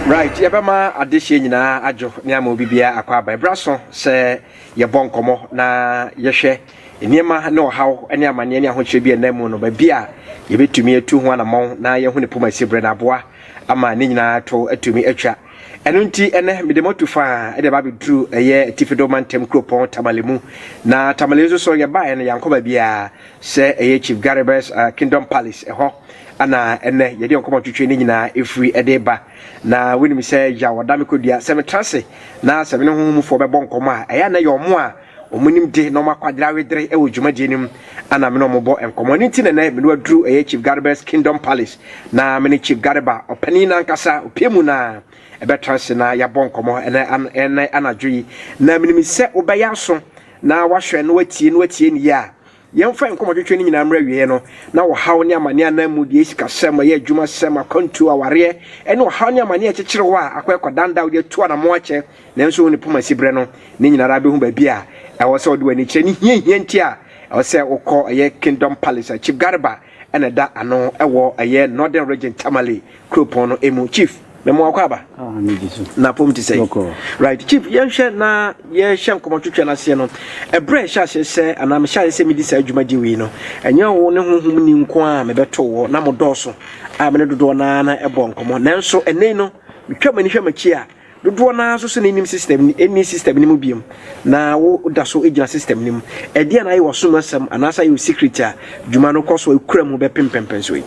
right yɛbɛma adehyeɛ nyinaa adwo ne ama obi biara akɔ aba ɛberɛ so sɛ yɛbɔ nkɔmmɔ na yɛhwɛ nneɛma ne ɔhaw ne amanneɛ ne ahokyerɛ bi ɛnam mu no baabi a yɛbɛtumi atu ho anammɔn na yɛhu ne poma si berɛ no aboa ama ne nyinaa to atumi atwa. Ɛno nti, ɛnɛ mede mo atu faa de aba abɛduru ɛyɛ Atifi Do Mantam kuropɔn Tamale mu. Na Tamale nso so yɛbaeɛ no yɛankɔ baabiara sɛ ɛyɛ Chief Garibus uh, Kingdom Palace ɛhɔ ana ɛnɛ yɛde nkɔmmɔ twitwe ne nyinaa ɛfiri ɛde ba. Na wonim sɛ yaw ɔda me kɔdua sɛ metra ase na sɛ me ne honhomfoɔ bɛbɔ nkɔmmɔ a ɛyɛ na yɛ ɔmo a Wɔn nimde na wɔn akwadare awedere wɔ dwumadie no mu a na me ne wɔn bɔ nkɔmmɔ. Ɛno nti na ɛnnɛ me ne waduru ɛyɛ Chief Gareba's Kingdom Palace na me ne Chief Gareba ɔpanin no ankasa opie mu na ɛbɛtra ase na yɛabɔ nkɔmmɔ ɛnɛ an ɛnɛ anadwo yi. Na menim sɛ wobɛyɛ aso na wahwɛ na watie na watie no yie a Yɛmfa yɛn nkɔmmɔtwetwe no nyinaa mmra awieeɛ no, na ɔhaw ne amaneɛ anaa mmudeɛ, sikasɛm, ɔyɛ adwumasɛm, akwantuo, awareɛ, ne ɔhaw ne amaneɛ a ɛkyekyere hɔ a akɔ ɛkɔdan da a wode atu anammɔn akyɛ nanso wo ne poma si berɛ no, ne nyina ara bɛhu baabi a ɛwɔ sɛ wode w'ani kyerɛ ne hiahia nti a ɛwɔ sɛ wokɔ ɛyɛ Kingdom Palace a Chief Garba na ɛda ano wɔ ɛyɛ Northern Region Tamale kuropɔn no mu. Chief, me mo akɔ aba. Ah, me di so. Na pom ti sɛ. Right, Chief, yɛnhwɛ na yɛhyɛ nkɔmɔ twitwa no aseɛ no. Ɛbrɛ ɛhyɛ aseɛ sɛ anaa mehyɛ aseɛ sɛ medi saa adwuma gye wei no. Ɛnyɛ wo ne honhom ni nko a mebɛto wɔ na mo dɔɔso a me ne dodoɔ naa na ɛbɔ nkɔmɔ. Nanso ɛnɛ no metwa m'ani hwɛ m'akyi a Dodoɔ no ara nso sɛ na nnim system no, nni system no mu biom, na wo da so gyina system no mu. Ɛdeɛn na ayɛ w'asom asɛm anaasɛ ayɛ wo secret a dwuma no kɔ so a ekura mu bɛpem mpɛnpɛnsoɔ yi?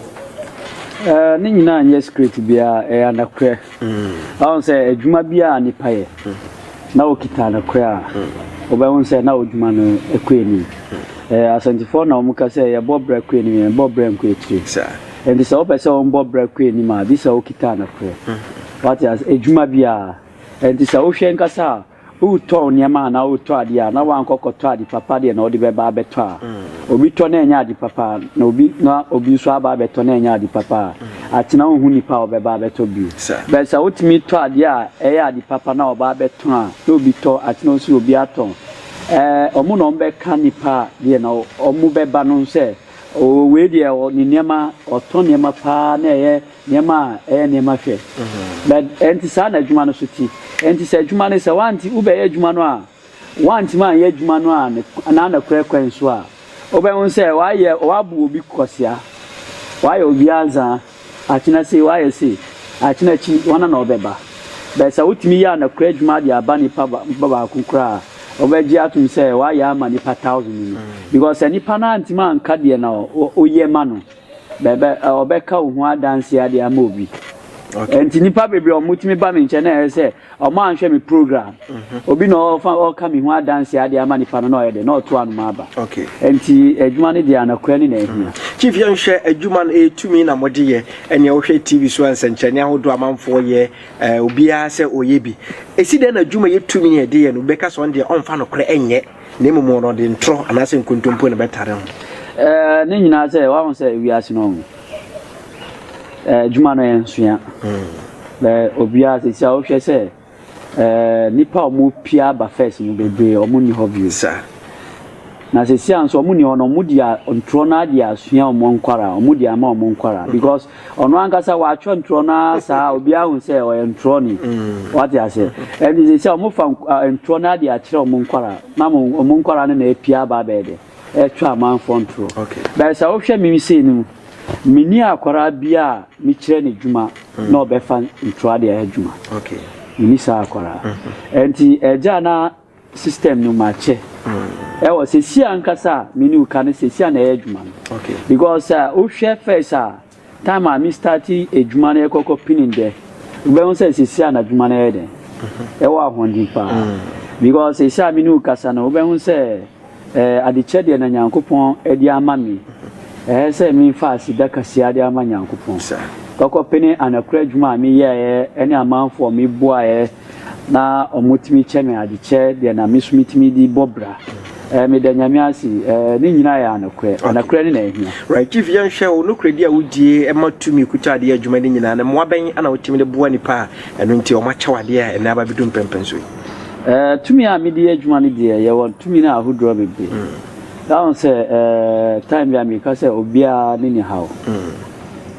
Ɛɛ, ne nyinaa nyɛ secret biara, ɛyɛ anokorɛ. Wahu sɛ adwuma biara a nipa yɛ, na okita anokorɛ a, wobɛhu sɛ na odwuma no kɔ anim. Ɛɛ, Asantefoɔ na wɔka sɛ yɛbɔ bra kɔ anim, yɛnbɔ bra nkɔ akyire. Nti sɛ wopɛ sɛ wɔbɔ bra kɔ anim a, gye sɛ wokita anokorɛ. Wate ase? Adwuma bi a ɛnti sɛ wohwɛ ankasa a, woretɔn nneɛma anaa woretɔ adeɛ a, na woankɔ kɔtɔ ade papa deɛ na wode bɛba abɛtɔ a, obi tɔ na ɛnyɛ ade papa na obi na obi nso aba abɛtɔ na ɛnyɛ ade papa a, akyena wonhu nipa a ɔbɛba abɛtɔ bio. But sɛ wotumi tɔ adeɛ a ɛyɛ ade papa na ɔba abɛtɔn a, na obi tɔ, akyena nso obi atɔn. Ɛɛ, wɔn na wɔbɛka nipa a deɛ na wɔbɛba no sɛ, oo wei deɛ ɔ, ne nneɛma, ɔtɔ nneɛma paa na ɛyɛ. Nneɛma a ɛyɛ nneɛma hwɛ. Na ɛnte saa na adwuma no so te. Ɛnte sɛ adwuma no, sɛ woante, wobɛyɛ adwuma no a, woantumi anyɛ adwuma no a ne, anaa nokorɛ kwan so a, wobɛhu sɛ woayɛ, woabu obi kwasea, woayɛ obi anzaa, akyena sei, woayɛ sei, akyena akyi, hwana na ɔbɛba? But sɛ wotumi yɛ anokorɛ adwuma de aba nipa ba, nipa baako koraa a, wobɛgye atom sɛ woayɛ ama nipa thousand no. Because sɛ nipa no antumi anka deɛ na wo, woyɛ ma no. Bɛbɛ ɔbɛka wo ho adanseɛ ade ama obi. Okay. Nti nipa bebree ɔmo tumi ba mi nkyɛn na ɛyɛ sɛ ɔmo anhwɛ mi program. Mhm. Obi na ɔfa ɔka mi ho adanseɛ ade ama nipa no na ɔyɛ dɛ na ɔto anoma aba. Okay. Nti adwuma no deɛ anakura ne na ehia. Mhm. Chief yɛn hwɛ adwuma no etumi na mo de yɛ ɛnea wohwɛ TV so nsɛnkyerɛnne ahodoɔ amanfoɔ yɛ ɛɛ obiara sɛ ɔyɛ bi. Esi dɛn na adwuma yɛ tumi yɛ de yɛ no bɛka sɛ ɔn deɛ ɔnfa no korɛ ɛnyɛ. Na mmom wɔn no, ɔde ntorɔ anaasɛ nkontompo na ɛbɛtare ho. Ɛɛ, ne nyinaa sɛ, wahu sɛ wiase no, ɛɛ, adwuma no yɛ nsoa. Bɛ obiara sisi a wohwɛ sɛ, ɛɛ, nipa a wɔn pia aba fɛs no bebree wɔn nni hɔ bio. Sa. Na sisi a nso wɔn nni hɔ no, wɔn di a ntorɔ no adi asua wɔn nkwara, wɔn di ama wɔn nkwara because. Ɔno ankasa watwerɛ ntorɔ no ara saa obiara hu sɛ ɔyɛ ntorɔni. Mm. Wate ase? Ɛnti sɛ sɛ wɔfa ntorɔ no ade akyerɛ wɔn nkwaraa na wɔn nkwaraa no na apia aba abɛyɛ dɛ ɛtwa amanfoɔ ntorɔ. Okay. Bɛyɛ sɛ wohwɛ me sei no mu, menni akwaraa bi a mekyerɛ no adwuma mm. na ɔbɛfa ntorɔ ade ayɛ adwuma. Okay. Menni saa akwaraa. Mm-hmm. Ɛnti ɛgya na System no makyɛ ɛwɔ sɛsi ankasa a me ne wo ka no sɛsi a na ɛyɛ adwuma no because sɛ wo hwɛ first a time a me start adwuma no yɛ kɔkɔ pini dɛ wo bɛ hu sɛ sɛsi a na adwuma no yɛ dɛn ɛwɔ ahoɔden paa because sɛsi a me ne wo kasa no wo bɛ hu sɛ Ɛɛ adekyɛ deɛ na Nyankopɔn de ama me, ɛɛ sɛ me fa aseda kaseɛ de ama Nyankopɔn, kɔkɔ pene anakura adwuma a me yɛɛɛ ɛne amanfoɔ a me boaɛɛ na ɔmo tumi kyɛ me adekyɛ deɛ na me so me tumi de bɔ bra, ɛɛ me da Nyame ase, ɛɛ ne nyinaa yɛ anokorɛ, anokorɛ ne na ahia. Right chief yɛn hwɛ wo nokorɛdi a wo die ɛma tumi kuta adeɛ adwuma ne nyinaa no mmoa bɛn na wo tumi de boa nipa a ɛno nti ɔmo akyɛ wo adeɛ a ɛnɛ aba bɛ du mpɛmpɛnso yi. Eh, tumi a mede yɛ adwuma no deɛ, yɛwɔ tumi no ahodoɔ bebree. Na ho sɛ, eh, time bi a meka sɛ obiara ne ne haw.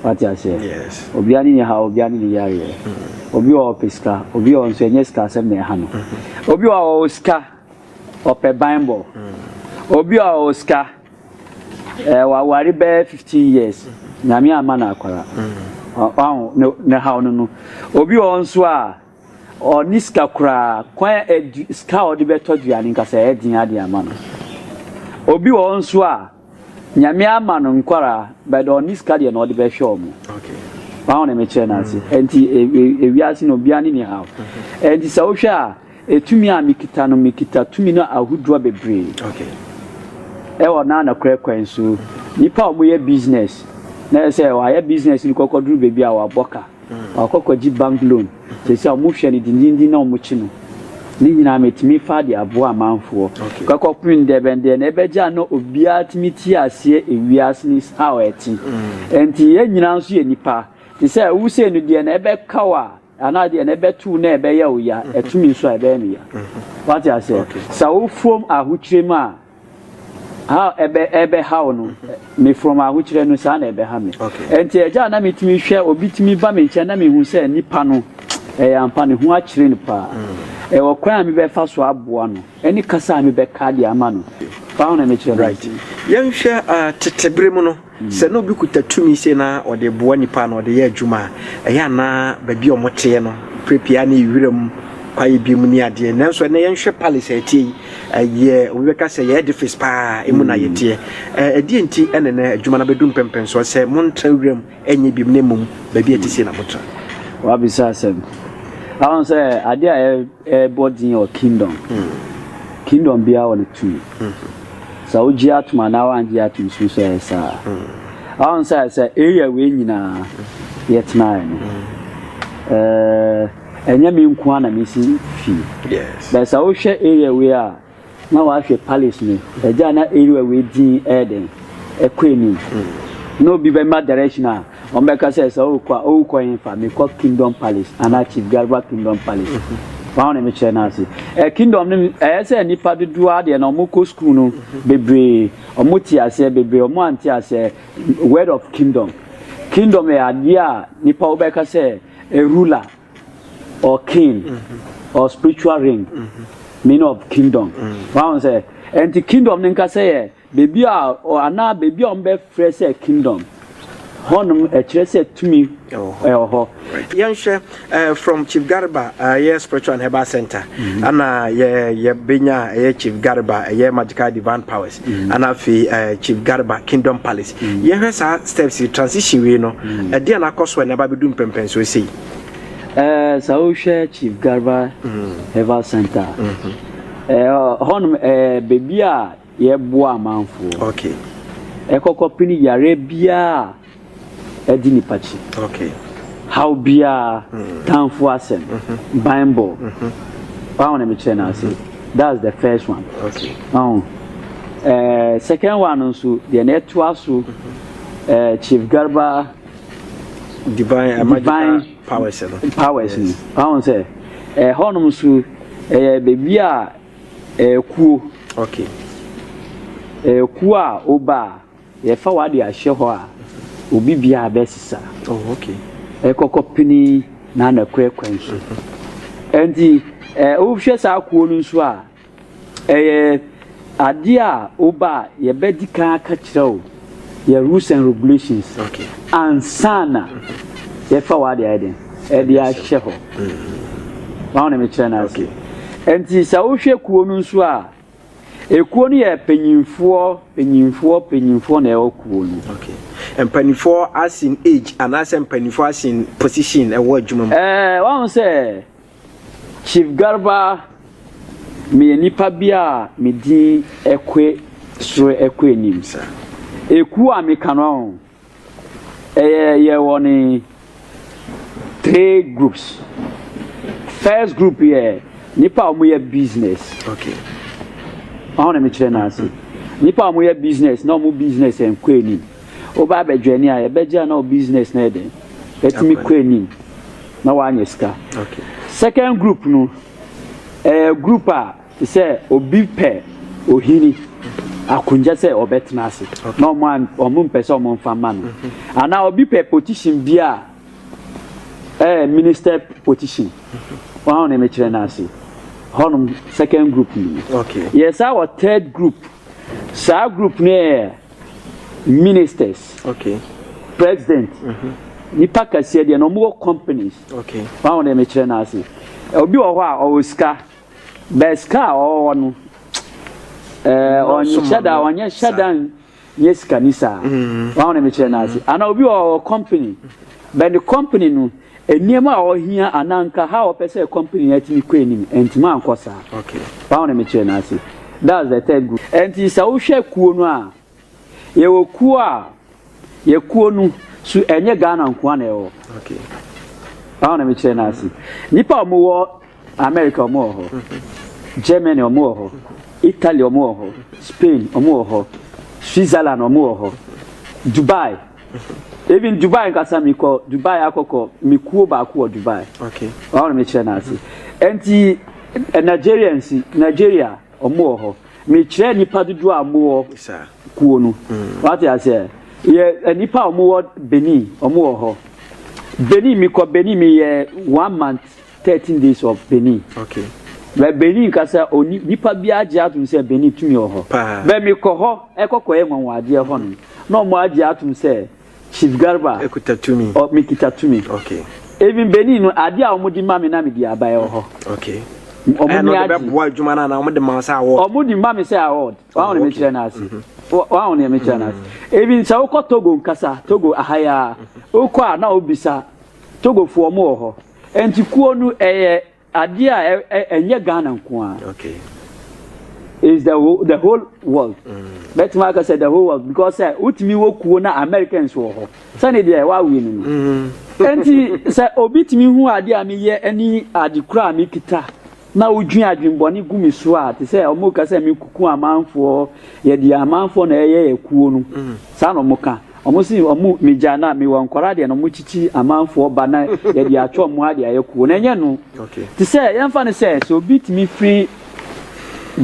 Wate aseɛ? Yes. Obiara ne ne haw, obiara ne ne yareɛ. Obi wɔ ɔpɛ sika, obi wɔ nso ɛnyɛ sika asɛm na ɛha no. Obi wɔ ɔwɔ sika, ɔpɛ banbɔ. Obi wɔ ɔwɔ sika, eh, waware bɛyɛ 15 years, nyame amma no akwara. Ɔho, ne haw no no. Obi wɔ nso a, Ɔnni sika koraa. Kwan a adu sika a ɔde bɛtɔ aduane nka sɛ ɛyɛ den ara de ama no. Obi wɔ hɔ nso a, Nyame ama no nkwadaa but ɔnni sika deɛ na ɔde bɛhwɛ wɔn. Wahu deɛ mekyerɛ no ase? Ɛnti ewiase no obiara ne ne haw. Ɛnti sɛ wohwɛ a, etumi a mekita no, mekita tumi no ahodoɔ bebree. Ɛwɔ na nokorɛ kwan so. Nnipa a wɔyɛ business na ɛsɛ sɛ wɔayɛ business no kɔkɔduru baabi a wɔabɔ ka. Ɔkɔ kɔgye bank loan sɛsi a ɔmo hwɛ no dindindin na ɔmo kye no ne nyinaa metumi faa de aboa amanfoɔ kɔ kɔ pem dɛ bɛn deɛ na ɛbɛgye a na obiara tumi te aseɛ ewiase no is how ɛte ɛnti yɛn nyinaa nso yɛ nipa te sɛ wo sei no deɛ na ɛbɛka wo a anaa deɛ na ɛbɛto wo na ɛbɛyɛ wo ya ɛto me nso a ɛbɛyɛ me ya wate aseɛ sa wo fom ahokyerɛ mu a. ha ɛbɛ ɛbɛhaw no mefrɔm ahokyerɛ no saa na ɛbɛha me ɛnti ɛgya a na metumi hwɛ obi tumi ba me nkyɛn na mehu sɛ nipa no ɛyɛ ampa ne ho akyerɛ no paa ɛwɔ kwan a mebɛfa so aboa no ɛne kasa a mebɛka de ama no paa na mekyerɛ no right yɛnhwɛ uh, tetebere mu no Sɛ na obi kuta tumi sei na ɔde boa nnipa anaa ɔde yɛ adwuma a, ɛyɛ a na baabi a wɔteɛ no, berɛ pii ara na ɛyɛ wiram kwaeɛ bi mu ne adeɛ. Nanso ɛnnɛ yɛnhwɛ palace a ɛteɛ yi, ɛyɛ, obi bɛka sɛ ɛyɛ edifice pa ara, emu na yɛteɛ. Ɛ, ɛdeɛn nti na ɛnnɛ adwuma no abɛdu mpɛmpɛnsoɔ sɛ montra wiram nyɛ biom na mmom baabi a ɛte sei na motra? Woabisa asɛm. Woahu sɛ adeɛ a ɛ, ɛbɔ din wɔ kingdom, kingdom biara wɔ ne tumi. Sɛ wogye atom anaa woangye atom suro sɛ ɛyɛ saa. Ahon sɛ sɛ area wei nyinaa yɛtenaeɛ no, ɛnyɛ me nko ara na mesi fie. Bɛɛ sɛ wohwɛ area wei a na wahwɛ palace no, ɛgya na area wei din ɛyɛ dɛn ɛkɔ anim. Na obi bɛma direction a Wɔbɛka sɛ sɛ ɔrekɔ a ɔrekɔ hefa? Mekɔ Kingdom Palace anaa Chief Garba Kingdom Palace. Wɔn a na mekyerɛ no ase. Ɛ Kingdom no ɛyɛ sɛ nnipa dodoɔ ara deɛ na wɔkɔ sukuu no bebree wɔte aseɛ bebree wɔn ante aseɛ word of Kingdom. Kingdom yɛ adeɛ a nnipa wobɛka sɛ a ruler or king or spiritual ring meaning of Kingdom. Wɔn a sɛ ɛnti Kingdom no nkasa yɛ Beebi a ɔ anaa beebi a wɔbɛfrɛ sɛ kingdom, hɔnom ɛkyerɛ sɛ tumi Ɛwɔ hɔ. ɛwɔ hɔ. Right. Yɛnhwɛ eh, from Chief Garba eh, ɛyɛ Spiritual and Herbal Center ana yɛ yɛbɛnya a ɛyɛ Chief Garba ɛyɛ Magical Divine Powers ana afei eh, Chief Garba Kingdom Palace. Yɛhwɛ saa steps yi transition wei no ɛdeɛ na akɔ so a ɛna ɛba abɛdu mpɛmpɛnsoɔ sei. Ɛɛ, sɛ wohwɛ Chief Garba Herbal Center a, ɛɛ, hɔnom ɛyɛ beebi a Yɛboa amanfoɔ ɛkɔ kɔpene yareɛ biara a ɛdi nipa kyi, haw biara, tanfoɔ asɛm, banbɔ, waho na mekyerɛ no ase, that's the first one, waho eh, second one no nso deɛ na ɛtoa so eh, Chief Garba divine, divine powers no powers no, waho sɛ ɛhɔnom eh, nso ɛyɛ baabi a Ɛkuo, ok. Ɛkuo a woba a, yɛfa w'ade ahyɛ hɔ a, obi biara bɛsesa. Oh, ok. Ɛkɔkɔ pini na na kura kwan so. Ɛnti, ɛ, wohwɛ saa kuo no nso a, ɛyɛ adeɛ a woba a, yɛbɛdi kan aka kyerɛ wo. Yɛ rules and regulations ansa na yɛfa wɔ ade ayɛ den ɛde ahyɛ hɔ wɔn na mekyerɛ no ase nti sɛ wohwɛ kuo no nso a ekuo no yɛ panyinfoɔ panyinfoɔ panyinfoɔ na ɛwɔ kuo no. Okay. mpanimfoɔ asin age anaasɛ mpanimfoɔ asin position ɛwɔ adwuma mu. ɛɛ wɔn sɛ Chief Garba, meyɛ nipa bi a me din kɔ soro kɔ anim. Ekuo a meka no ahu, ɛyɛ yɛwɔ ne three groups. First group yɛ nipa a wɔyɛ business. Okay. Wɔn na mekyerɛ n'ase. Nipa a wɔyɛ business na wɔn business nkɔ anim. Woba abɛjoini a yɛbɛgye a na wo business no yɛ dɛn? Atumi kɔ anim na woanya sika. Second group no, ɛyɛ group a te sɛ obi pɛ ohini akonnwa sɛ ɔbɛtena ase na ɔmo an ɔmo mpɛ sɛ ɔmo nfa ma no. Mm-hmm. Anaa obi pɛ position bi a ɛyɛ minister position. Mm-hmm. Wɔn a wɔn mekyerɛ no ase. Hɔnom second group no. Yɛ saa wɔ third group. Saa group no yɛ ministers okay president mm -hmm. nipa kɛseɛ deɛ na ɔmo wɔ companies okay wɔn ahodeɛ mi kyerɛ n'ase obi wɔ hɔ a ɔwɔ sika bɛɛ sika a ɔwɔ no ɛɛ ɔnyɛ hyɛ da ɔnyɛ hyɛ da nyɛ sika ni saa wɔn ahodeɛ mi kyerɛ n'ase ana obi wɔ ɔwɔ company bɛɛ ne company no. Nneɛma a ɔhia anaa nka how ɔpɛ sɛ company no atumi kɔ anim antumi ankɔ saa. Paw na mekyerɛ no ase. That's the third group. Ɛnti sɛ wohwɛ kuo no a, yɛwɔ kuo a, yɛ kuo no so ɛnyɛ Ghana nkoa na ɛwɔ. Paw na mekyerɛ no ase. Nnipa a wɔwɔ America wɔn wɔ hɔ, Germany wɔn wɔ hɔ, Italy wɔn wɔ hɔ, Spain wɔn wɔ hɔ, Switzerland wɔn wɔ hɔ, Dubai. Even Dubai nkasa mi kɔ Dubai akɔkɔ mi kuo baako wɔ Dubai. Okay. Wɔn na mi kyerɛ n'ase. Nti eh, Nigerians Nigeria wɔn wɔ hɔ. Mi kyerɛ nipa dodoɔ a wɔn wɔ kuo no. Mm. Wate aseɛ yɛ eh, nipa a wɔn wɔ Benin wɔn wɔ hɔ. Benin mi kɔ Benin mi yɛ one month 13 days of benin okay bɛ benin kasa oni nipa bi agye atom sɛ benin tumi wɔ hɔ bɛ mi kɔ hɔ ɛkɔ kɔ yɛ nwanwa adeɛ hɔ no na ɔmo agye atom sɛ chief garba ɛkuta tumi ɔ mi kita tumi okay even benin no adeɛ a ɔmo di ma mi na mi di aba ɛwɔ hɔ okay ɔmo ni agye ɛbɛboa adwuma na ɔmo de ma sɛ award ɔmo di ma mi sɛ award wɔn a wɔn mi kyerɛ na ase wɔn a wɔn mi kyerɛ na ase even sɛ wokɔ togo nkasa togo ahaya wokɔ a na obisa togo fo ɔmo wɔ hɔ. Nti kuo no ɛyɛ adeɛ a ɛnyɛ Ghana nko ara. Okay. It's the whole, the whole world. Bɛtumi mm. aka sɛ the whole world because sɛ wotumi wɔ kuo na Americans wɔ hɔ sɛne deɛ wawe no no. Mm. Nti sɛ obi tumi hu adeɛ a meyɛ ne ade kura a mekita. na wodwin adwen bɔne gu me so a te sɛ ɔmo ka sɛ me kuku amanfoɔ yɛ deɛ amanfoɔ na ɛyɛ yɛ kuo no saa na ɔmo ka ɔmo se ɔmo me gya na me wɔ nkɔra deɛ na ɔmo kyikyi amanfoɔ ba na yɛ deɛ atwa ɔmo ha deɛ ayɛ kuo na ɛnyɛ no te sɛ yɛn fa no sɛ sɛ obi tumi firi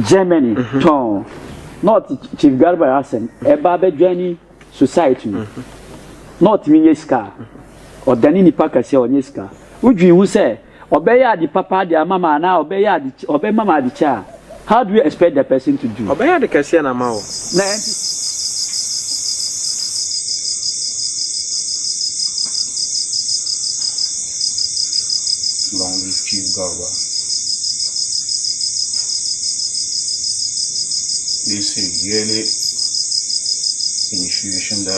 Germany tɔn na ɔte Chief Garba asɛm ɛba abɛdwani society no na ɔtumi nyɛ sika ɔdane nipa kɛseɛ ɔnyɛ sika wodwin ho sɛ Ɔbɛyɛ ade papa de ama me anaa ɔbɛyɛ ade ɔbɛma me ade kyɛ a, how do you expect the person to do? Ɔbɛyɛ ade kɛseɛ na ama wo. Na ɛnte saa. Long live Chief Garba. They say yearly initiation that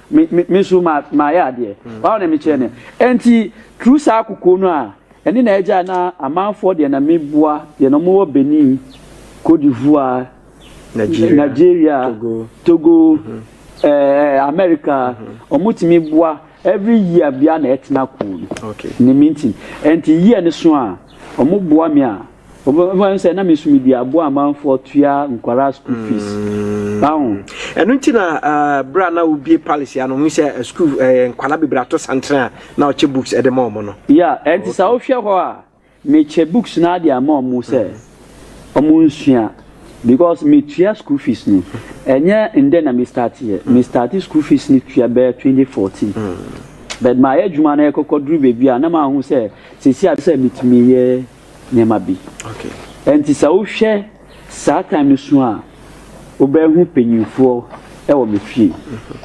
Me, me, me nso ma, mayɛ adeɛ. Wɔn na mekyerɛ no. Ɛnti, through saa kokoɔ no a, ɛne na ɛgya na amanfoɔ deɛ na meboa, deɛ na wɔwɔ Benin, Côte d'Ivoire, Nigeria, Nigeria Togo, Togo ɛɛ, America, wɔtumi boa, every year biara na ɛtena kuu no. Okay. Ne mintin. Ɛnti year no so a, wɔboa me a, Wɔn sɛ na mesu mi di aboa amanfoɔ tua nkwaraa school fees. Báwo. Ɛno nti na berɛ a na wobie palace ya no mu sɛ school nkwaraa bebree ato santere a na ɔkyɛ books ɛde ma wɔn no. Ya ɛnti sɛ wohwɛ hɔ a mekyɛ books no ade ama wɔn sɛ wɔn nsua because metua school fees no ɛnyɛ ndɛ na me start yɛ me start school fees no tua bɛyɛ 2014 but mayɛ adwuma no ɛkɔkɔ duru baabi a na mahu sɛ sɛsi a sɛ metumi yɛ. nneɛma bi. Ɛnti sɛ wohwɛ saa time no so a, wobɛhu panyinfoɔ ɛwɔ me fie.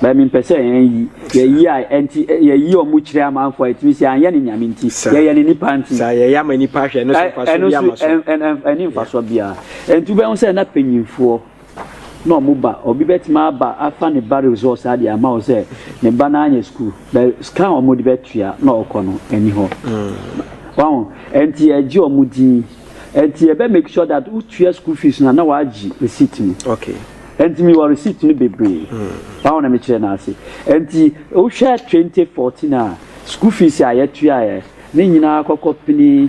Bɛɛ mi mpɛ sɛ yɛn yi, yɛ yi a ɛnti yɛ yi ɔmo kyerɛ amanfoɔ a ɛtumi sɛ anyɛ ne nyame nti, yɛ yɛ ne nipa nti. Saa yɛ yɛ ama nipa ahwɛ ɛno so nfa so bi ama so. Ɛno so ɛni nfa so biara. Ɛnti wobɛhu sɛ na panyinfoɔ. na ɔmo ba obi bɛtumi aba afa ne ba resɔs adeɛ ama wo sɛ ne ba no anyɛ sukuu bɛ sika a ɔmo de bɛtua na ɔkɔ no ɛni hɔ wahu ɛnti ɛgye ɔmo din ɛnti ɛbɛ make sure that wotua sukuu fees no na wagye receipt no okay ɛnti mi wɔ receipt no bebree wahu na mekyerɛ no ase ɛnti wohwɛ 2014 a sukuu fees a yɛtuaeɛ ne nyinaa kɔkɔ pini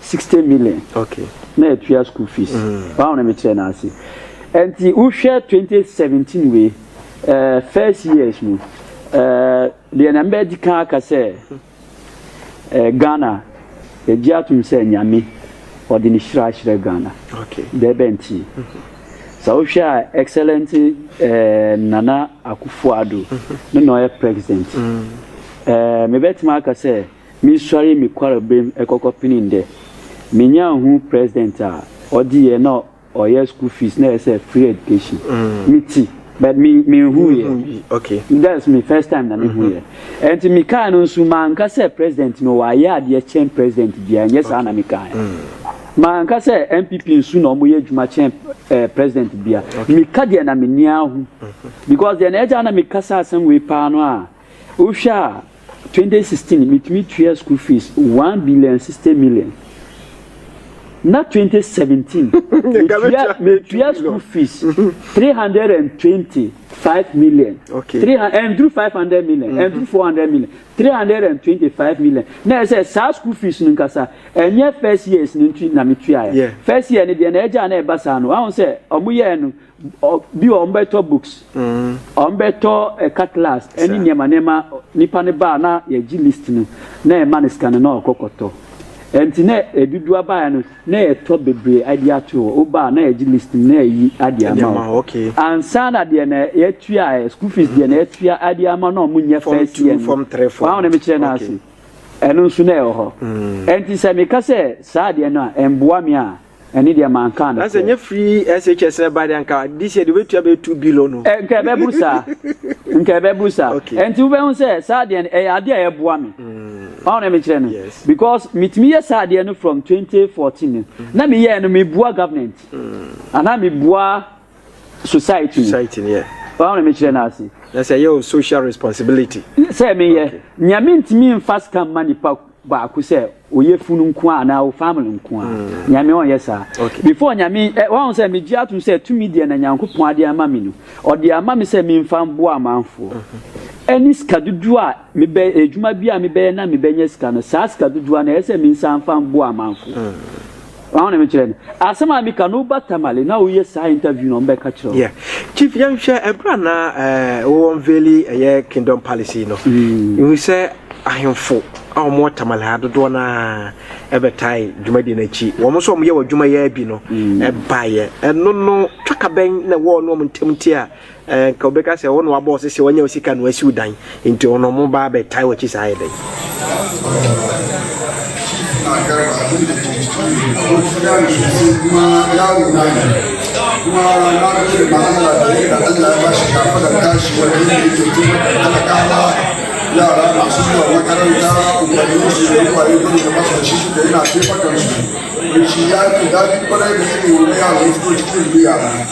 sixty million okay na yɛtua school fees mm. wɔn na mekyerɛ no ase nti wohwɛ twenty seventeen wei uh, first years mu uh, deɛ na mbɛdi kan aka sɛ uh, ghana yɛgye atom sɛ nyame ɔde ne hyira ahyerɛ ghana okay. dɛ bɛ nti mm -hmm sɛ wohwɛ a excellent eh, nana akufo ado ne na ɔyɛ president mm. eh, mebɛtumi aka sɛ Mesuaree me kwarberem kɔkɔ penee dɛ menya hu president a ɔdze yɛ na ɔyɛ school fees na ɛsɛ free education me tse but me mennhuu yɛ that's me first time na mehu yɛ ɛnti me kae no nso mannka sɛ president no ɔayɛ adeɛ kyɛn president biara nyɛ saa na me kae mannka sɛ NPP nso na ɔmo yɛ adwuma kyɛn eh, president biara meka deɛ na m'ani ahu because deɛ na ɛgya na meka sɛ asɛm wei paa no a Wohwɛ a, twenty sixteen mitumi tua school fees one billion and sixty million. Na twenty seventeen metua metua school fees three hundred and twenty five million. Okay. Three and through five hundred million and through four hundred million three hundred and twenty five million. Na ɛsɛ saa school fees no nkasa ɛnyɛ first years no nti na metua yɛ. First year no deɛ na ɛgya na ɛba saa no ahun sɛ wɔn yɛ no. Bi wɔ hɔ wɔbɛtɔ books, wɔbɛtɔ car class ne nneɛma nneɛma. Nipa no ba a na yɛgye list no na yɛma no sika no na ɔkɔ kɔtɔ. Ɛnti na aduduwa baeɛ no na yɛtɔ bebree ɛde ato hɔ. Woba a na yɛgye list no na yɛyi ɛde ama wo. Ansa na deɛ na yɛtua ɛ, school fees deɛ na yɛtua ɛde ama na wɔn nyɛ first year no. W'ahu deɛ mekyerɛ no ase? Ɛno nso na ɛwɔ hɔ. Ɛnti sɛ meka sɛ saa adeɛ no a ɛmboa me a, Ɛne deɛ mankaa no sɛ. Na sɛ free SHS na ɛba deɛ nka this year deɛ wobɛtua bɛyɛ two billion no. Eh, nka ɛbɛburu saa nka ɛbɛburu saa ɛnti wobɛhu sɛ saa deɛ no ɛyɛ adeɛ a ɛboa me mm. ɔn na mekyerɛ no because metumi yɛ saa deɛ no from 2014 no mm. na meyɛɛ no mebua government mm. anaa mebua society society ni yɛ ɔn na mekyerɛ no ase na sɛ ɛyɛ o social responsibility sɛ meyɛ okay. nea mentumi mfa sika mma nipa baako sɛ oyɛ funu nko a anaa o family nko a mm. nyame ɔnyɛ saa okay. before nyame eh, wɔn sɛ megye atom sɛ tumi deɛ na nyankopɔn ade ama me no ɔde ama me sɛ memfa mboa amanfoɔ ɛne mm-hmm. sika dodoɔ a Mebɛ edwuma bi a mebɛyɛ na mebɛnya sika no, saa sika dodowa no, ɛyɛ sɛ minsan mfa mboa amanfo. Ɔaho na mekyerɛ no. Asɛm a meka no, wo ba Tamale na ɔreyɛ saa interview no, ɔmbɛka kyerɛ wo. Yeah. Chief, yɛnhwɛ ɛberɛ a na eh, wo unveili ɛyɛ Kingdom Palace yi no, yɛhu sɛ ahemfo a wɔwɔ Tamale ha dodoɔ no ara ɛbɛtae dwumadie no akyi. Wɔn nso a wɔyɛ wɔn adwumayɛ bi no ɛbaeɛ. Ɛno no, twaka bɛn na ɛwɔ wɔn ne wɔn ntam nti a Anka wobɛka sɛ wo na wabɔ wo sese wanya wo sika na wasi wo dan nti ɔno ɔmo ba abɛtae w'akyi saa ayɛ dɛn?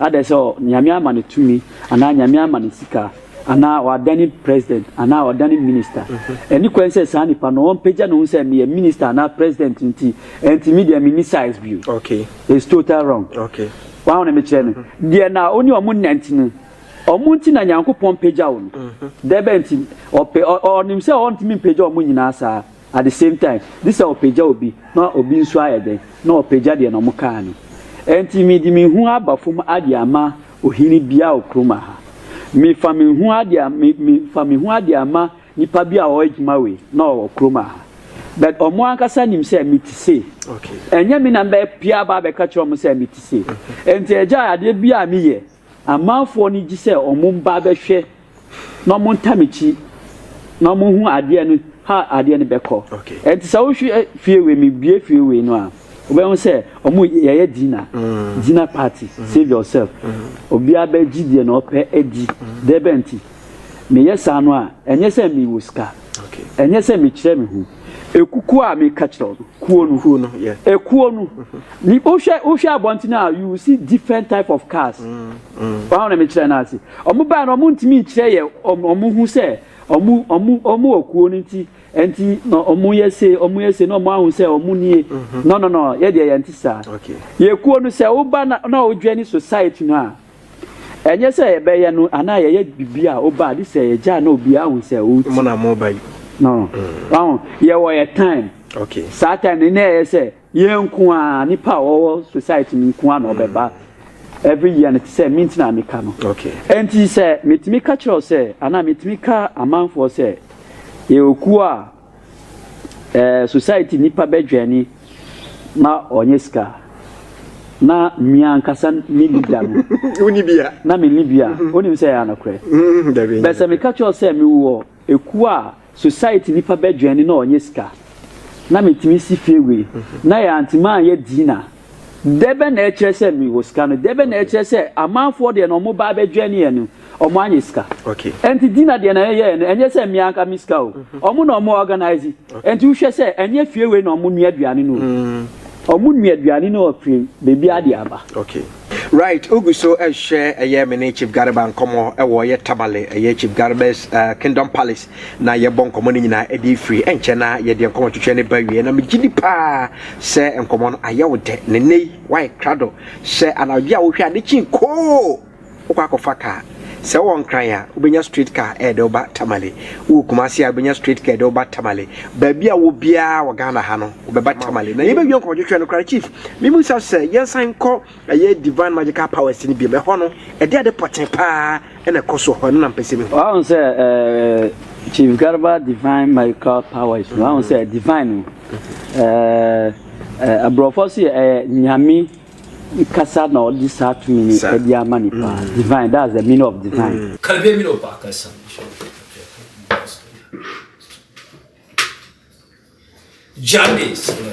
Adɛn sɛ Nyame ama no tumi anaa Nyame ama no sika anaa ɔadane president anaa ɔadane minister? Ɛnni kwan sɛ saa nipa no ɔmpagya ne ho sɛ meyɛ minister anaa president nti ɛnti me deɛ menni size bio. It's total wrong. Wahu ne mekyerɛ no? Deɛ na wo ne ɔmo nante no, ɔmo nti na Nyankopɔn pagya wo no. Dɛbɛn nti? Ɔpɛ, ɔ, ɔnim sɛ ɔntumi mpagya ɔmo nyinaa saa. At the same time, gye sɛ ɔpagya obi na obi nso ayɛ dɛn, na ɔpagya deɛ na wɔkaa no. Ɛnti mede me hu aba fam adeɛ ama ohene biara wɔ kurom aha. Mefa me hu adeɛ, me, me, fa me hu adeɛ ama nipa bi a ɔwɔ adwuma wei na ɔwɔ kurom aha. But wɔn ankasa nim sɛ me te sei. Okay. Ɛnyɛ me na mbɛ pia aba abɛka kyerɛ wɔn sɛ me te sei. Ɛnti agya adeɛ bi a meyɛ Amanfoɔ no gye sɛ ɔmo mba abɛhwɛ na ɔmo nta m'akyi na ɔmo hu adeɛ no how adeɛ no bɛkɔ. Ɛnti sɛ wohwɛ fie wei me bue fie wei no a wobɛhu sɛ ɔmo yɛyɛ dinner dinner party save yourself obiara bɛgye deɛ na ɔpɛ adi dɛbɛn nti meyɛ saa no a ɛnyɛ sɛ me wɔ sika ɛnyɛ sɛ me kyerɛ me ho. Ekukuo a meka kyerɛ no, kuo no. Kuo no, yeah. Ekuo no. Ni wohwɛ wohwɛ abɔnten a you will see different type of cars. Mm, mm. Wɔn na mekyerɛ no ase. Wɔn baa no wɔn ntumi nkyerɛ yɛ wɔn wɔn ho sɛ wɔn wɔn wɔn wɔ kuo no nti nti na wɔn yɛ se wɔn yɛ se na wɔn ahu sɛ wɔn nie. Mm-hmm. No no no yɛ deɛ yɛn ti saa. Yɛ kuo no sɛ woba na na wodwɛ ne society no a. Ɛnyɛ sɛ yɛbɛyɛ no anaa yɛyɛ biribi a ɔba a gye sɛ yɛgya na obiara hu sɛ ɔreti. Mo na moba yi. No. Wahu, yɛwɔ yɛ time. Okay. Saa time no na ɛyɛ sɛ yɛn nko a nipa a wɔwɔ society no nko a na ɔbɛba every year no te sɛ me nti na meka no. Okay. Ɛnti sɛ metumi ka kyerɛ wo sɛ anaa metumi ka amanfoɔ sɛ yɛwɔ kuo a Ɛɛ society nipa bɛ dwɛni ma ɔnyɛ sika na mia ankasa ne leader no woni bia na me ni bia mhm. onim sɛ ya nokorɛ mhm, bɛ sɛ meka kyerɛ sɛ me wɔ ekuo a society nipa bɛ dwɛni na ɔnyɛ sika na metumi si fie wei mhm. na yɛ antimi anyɛ dina Dɛ bɛn na ɛkyerɛ sɛ mewɔ sika no? Dɛ bɛn na ɛkyerɛ sɛ amanfoɔ deɛ na wɔba abɛdwɛn yɛn no, wɔanyɛ sika? Ɛnti Dina deɛ na yɛyɛɛ no, ɛnyɛ sɛ me anka me sika o. Wɔn na wɔn organise. Ɛnti wohwɛ sɛ ɛnyɛ fie wei na wɔn nua aduane no o. Wɔn nua aduane no ɔfiri baabiara de aba. Right wogu so rehwɛ ɛyɛ me ne Chief Garba nkɔmmɔ ɛwɔ ɛyɛ Tamale ɛyɛ Chief Garba's kingdom palace na yɛbɔ nkɔmmɔ no nyinaa de firi nkyɛn na yɛde nkɔmmɔ twetwe ne ba wie na megye di paa sɛ nkɔmmɔ no ayɛ wo dɛ ne nnɛ yi woayɛ krado sɛ anadwo a wohwɛ ade kyin koo wokɔ akɔfa kaa sɛ wowɔ nkran a wobɛnya straight car ɛde woba tamale wowɔ kumase a wobɛnya straight car ɛde woba tamale baabi a wɔ biara wɔ ghana ha no wobɛba tamale na yɛbɛwie nkɔmmɔ twetwe no koraa chief memu sa sɛ yɛnsan nkɔ Ɛyɛ Divine Magical Powers no biom. Ɛhɔ no, ɛde ade pɔtee paa na ɛkɔ so wɔ hɔ. Ɛno na mepɛ sɛ mihu. Wahu sɛ ɛɛ Chief Garba Divine Magical Powers no, wahu sɛ divine no, ɛɛ aborɔfo so yɛ ɛyɛ nyame kasa na ɔde saa tumi no Sir. ɛde ama nipa. Divine, that's the meaning of divine. Kalbie mi no baka sa mi sho ko kapia ko mi basta ya. Jande sila.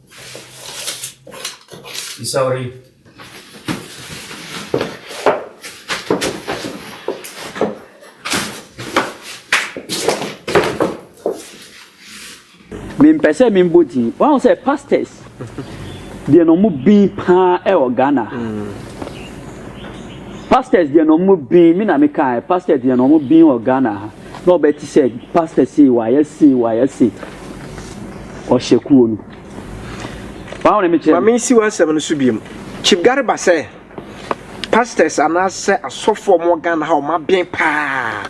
Isauri. mempɛ sɛ membɔ din wahu sɛ pastors deɛ na ɔmo bin paa ɛwɔ ghana pastors deɛ na ɔmo bin me na mekae pastors deɛ na ɔmo bin wɔ ghana ha Na ɔbɛ te sɛ pastor sei wayɛ sei wayɛ sei ɔhyɛ kuo no wɔn na mekyerɛ. Maame nsi w'asɛm no so biem Chief Gariba sɛ pastors anaasɛ asɔfoɔ wɔn Ghana ha wɔn aben paa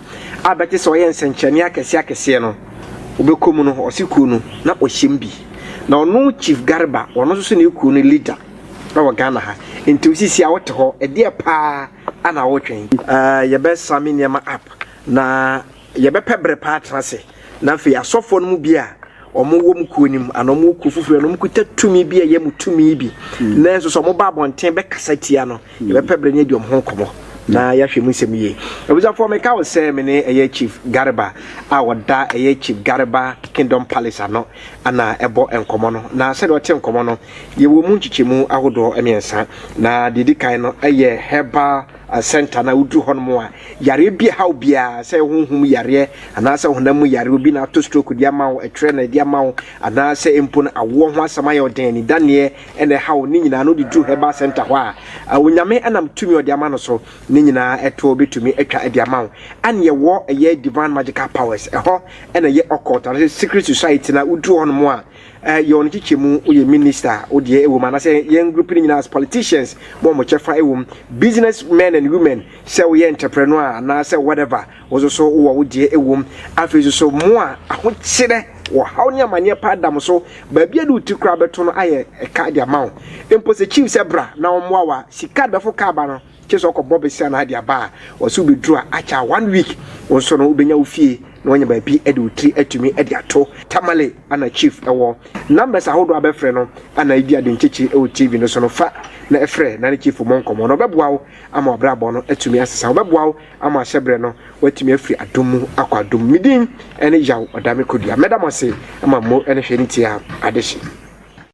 a bɛte sɛ ɔyɛ nsɛnkyerɛnne akɛseɛ akɛseɛ no ɔbɛkɔ mu no ɔse kuo no na ɔhyɛm bi na ɔno Chief Gariba ɔno nso so ne kuo no leader wɔ Ghana ha nti osisi a wote hɔ ɛdeɛ paa ana wotwɛn. Ɛɛ yɛbɛsame nneɛma up. Na yɛbɛpɛ bere pa atena ase, na afei asɔfoɔ no mu bi a wɔwɔ wɔn kuo no mu anaa wɔwɔ kuo foforɔ no, wɔkuta tumi bi a ɛyɛ mo tumi bi, mm. nanso sɛ wɔba abɔnten bɛkasa tia no, mm. yɛbɛpɛ bere no adi wɔn ho nkɔmmɔ na mm. yɛahwɛ mu nsɛm yie. Abusuafoɔ, meka wo sɛ me ne ɛyɛ Chief Garba a wɔda ɛyɛ Chief Garba Kingdom Palace ano ana ɛbɔ nkɔmmɔ no, na sɛdeɛ ɔte nkɔmmɔ no, yɛwɔ mu nkyekyɛmu ahodoɔ mmiɛnsa, na deɛ ɛdi kan no ɛyɛ herbal Asɛnta no a woduru hɔ nom a, yareɛ bi ɛhaw biara, sɛ ɛyɛ honhom mu yareɛ anaa sɛ honam mu yareɛ, obi na ato stroke de ama wo, ɛtwerɛ na ɛde ama wo, anaa sɛ mpo no awoɔ ho asɛm ayɛ wo den, anidaneɛ na ɛhaw wo, ne nyinaa no wode duru Herbal Centre hɔ a, Onyame nam tumi a ɔde ama no so no nyinaa ɛtoɔ bɛtumi atwa de ama wo. Ɛne yɛwɔ ɛyɛ Divine Magical Powers, ɛhɔ na ɛyɛ Occult anaa sɛ Secret Society no a woduru hɔ nom a, Eh yɛ wɔn kyekyɛ mu wo yɛ minister wo deɛ ɛwɔ mu anasɛ yɛn group no nyinaa as politicians bɔ wɔn kyɛfa ɛwɔ mu business men and women sɛ woyɛ entrepreneur a anaasɛ whatever wo nso so wowɔ wo deɛ ɛwɔ mu afei nso so mo a ahokyerɛ wɔ haw ne amaneɛ paa da mo so baabi a de wo ti koraa bɛto no ayɛ ɛka de ama wo mpo sɛ chief sɛ bra na wɔmmoa wa sika bɛfo kaa ba no Gye sɛ ɔkɔ bɔ besia na ade aba a ɔse wobeduru a akyɛ a one week wo nso no wobenya wo fie na wanya baabi de wo tiri atumi de ato. Tamale ana chief wɔ numbers ahodoɔ a bɛfrɛ no ana edi ade nkyekyere wɔ TV no so no fa na frɛ na ne chief mmɔ nkɔmmɔ na ɔbɛboa wo ama w'abrabɔ no atumi asesa ɔbɛboa wo ama ahyɛ berɛ no watumi afiri adom mu akɔ adom mu medin ne Yaw Ɔdame Kodua mɛda mo ase ama mmo ne hwɛ ne tie a adehye.